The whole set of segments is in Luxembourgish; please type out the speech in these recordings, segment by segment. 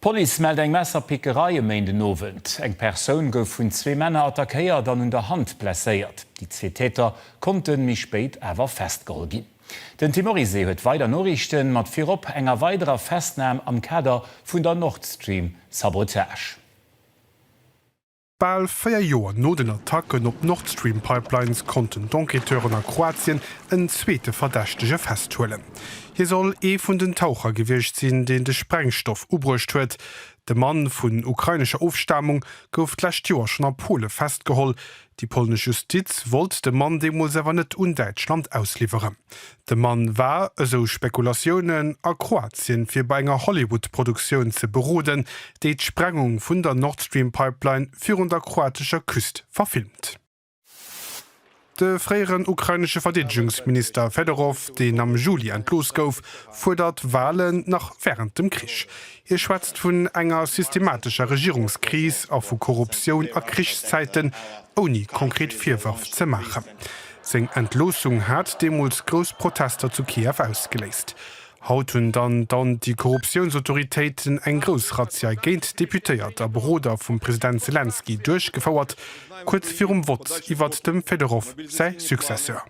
D'Police mellt eng Messerpickerei e Méindenowend. Eng Persoun gouf vun zwee Männer attackéiert an un der Hand blesséiert. Déi zwee Täter konnte méi spéit awer festgeholl ginn. Den Tim Oryssee huet weider Noriichten, mat virop enger weiderer Festnam am Kader vun der Nord Stream Sabotage. Bal véier Joer no den Attacken op d'Nordstream-Pipelines konnten d'Enquêteuren a Kroatien en zweete Verdächtege festhuelen. Hie soll ee vun den Taucher gewiescht sinn, deen de Sprengstoff ubruecht huet. De Mann, vun ukrainescher Ofstamung, gouf d'lescht Joer schonn a Pole festgeholl. Déi polnesch Justiz wollt de Mann deemools awer net un Däitschland ausliwweren. De Mann war, esou Spekulatiounen, a Kroatien, fir bei enger Hollywood-Produktioun ze beroden, déi d'Sprengung vun der Nord Stream Pipeline virun der kroatescher Küst verfilmt. De fréieren ukrainesche Verdeedegungsminister Fedorov, deen am Juli entlooss gouf, fuerdert Walen nach wärend dem Krich. Hie schwätzt vun enger systematescher Regierungskris a vu Korruptioun a Krichszäiten, ouni konkret Virwërf ze maachen. Seng Entloossung hat deemools grouss Protester zu Kiew ausgeléist. Haut hunn dann d'Anti-Korruptiounsautoritéiten eng grouss Razzia géint Deputéiert a Beroder vum President Selenskyj duerchgefouert, kuerz virum Vott iwwert dem Fedorow säi Successeur.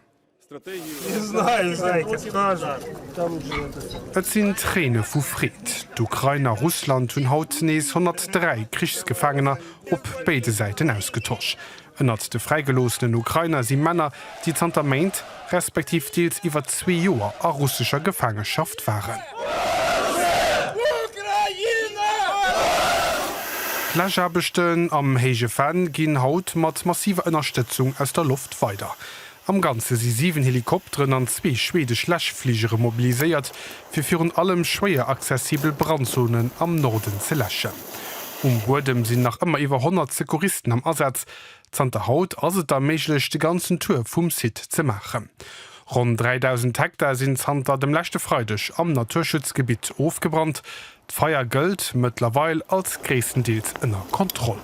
Et sinn Tréine vu Freed. D'Ukrain a Russland hunn haut nees 103 Krichsgefaangener op béide Säiten ausgetosch. Ënnert de fräigeloossenen Ukrainer si Männer, déi zanter Méint, respektiv deels iwwer zwee Joer a russescher Gefaangeschaft waren. D'Läschaarbechten am Héije Venn ginn haut mat massiver Ënnerstëtzung aus der Loft weider. Am Ganze si 7 Helikopteren an zwee schwedesch Läschfligere mobiliséiert, fir virun allem schwéier accessibel Brandzonen am Norden ze läschen. Um Buedem sinn nach ëmmer iwwer 100 Secouristen am Asaz. Zanter haut ass et da méiglech, de ganzen Tour vum Site ze maachen. Ronn 3.000 Hektar sinn zanter dem leschte Freideg am Naturschutzgebitt ofgebrannt. D'Feier gëllt mëttlerweil als gréisstendeels ënner Kontroll.